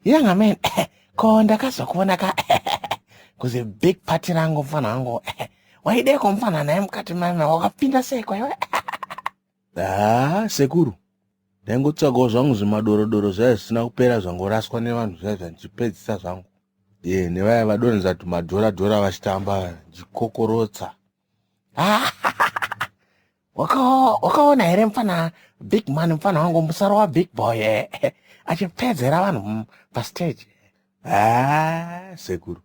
yanga man ko ndakazokuona ka kuzi big party rangu mfana wangu waideko mfana naye mukati mama wakapinda seko iwe ah sekuru ndaingotsvagawo zvangu zvimadorodoro zvaiva zvisina kupera zvangoraswa nevanhu zvaiva zvandichipedzisa zvangu ye nevaya vadonhedza tumadhoradhora vachitamba ndikokorotsa wakaona here mfana big man mfana wangu musaro wa big boy eh, eh, achipedzera vanhu mm, pastage ah, sekuru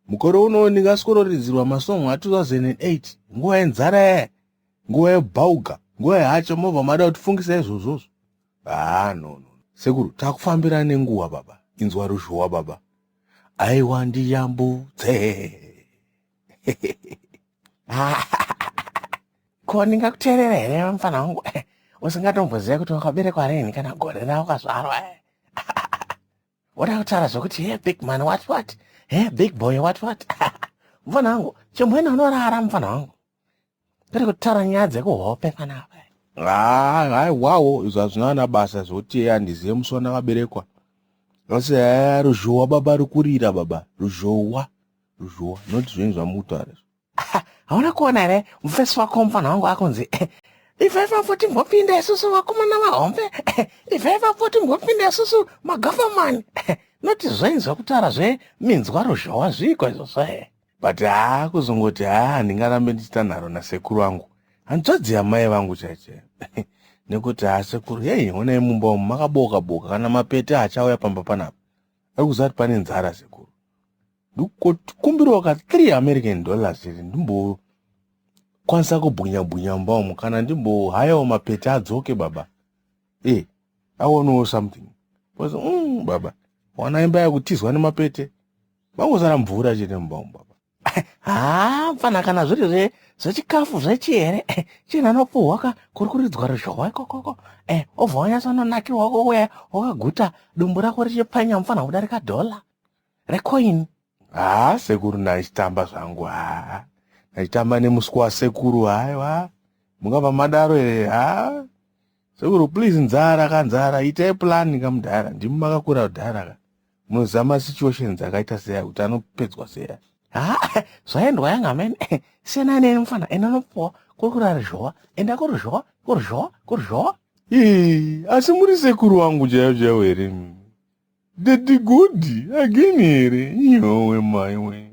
mukore uno ndingaskororidzirwa masong a2008 nguva yenzara eh, nguva yebhauga nguva yacho mobva mada kutifungisa izvozvozvo ah, no, no. sekuru takufambira nenguva baba inzwa ruzhowa baba aiwa ndiyambutse ko ndingakuteerera here mfana wangu eh, usingatomboziva kuti wakaberekwa rini kana gore ravo kazvarwa eh. woda kutaura zvokuti he big man what what he big boy what what mfana wangu chimwena unorara mfana wangu Tiri kutaura nyaya dzekuhope panapa. Ah, hai wawo izvo hazvina ana basa zvoti yeye andizive musi wandakaberekwa asi haya ruzhowa baba rukurira baba ruzhowa ruzhowa not zvinhu zvamutaura hauna kuona here mufesi wako mufana wangu akunzi ivai vavo timbopinda isusu vakomana vahombe ivai vavo timbopinda isusu magavamani not zvainzwa kutaura zveminzwa ruzhowa zviiko izvozvo he but haa kuzongoti haa handingarambe ndichita nharo nasekuru vangu hanzvadzi yamai vangu chaichai nekuti haa sekuru hei honai mumba umu makaboka boka kana mapete achauya pamba panapa ari kuziva kuti pane nzara sekuru ndikumbirawo ka 3 american dollars iri ndimbo kwanisa kubhunya bhunya mumba umu kana ndimbohayawo mapete adzoke baba e eh, aonewo something bcause mm, baba wana imba yakutizwa nemapete Mangosara mvura chete mumba umu baba. Haa mfana kana zviri zve zvechikafu zvechihere eh, chinhu anopuhwa ka kuri kuridzwa ruzhowa ikokoko eh, obva wanyatsononakirwa kuuya wakaguta dumbu rako richipfanya mfana kudarika dhola recoin Haa sekuru ndachitamba zvangu haa. Ndachitamba nemuswe wasekuru haiwa. Mungava madaro here haa. Sekuru please nzara ka nzara itai plan ka mudhara. Ndimi makakura kudhara ka. Muzama situations akaita seya kuti anopedzwa seya. Ha, zvaendwa yanga amene. Siyana neni mfana, enda unopuwa kuri kurara zhowa, enda kuri zhowa, kuri zhowa, kuri zhowa. Ee, asi muri sekuru wangu chaiyo chaiyo here? Daddy Godi again here? Yowe maiwe.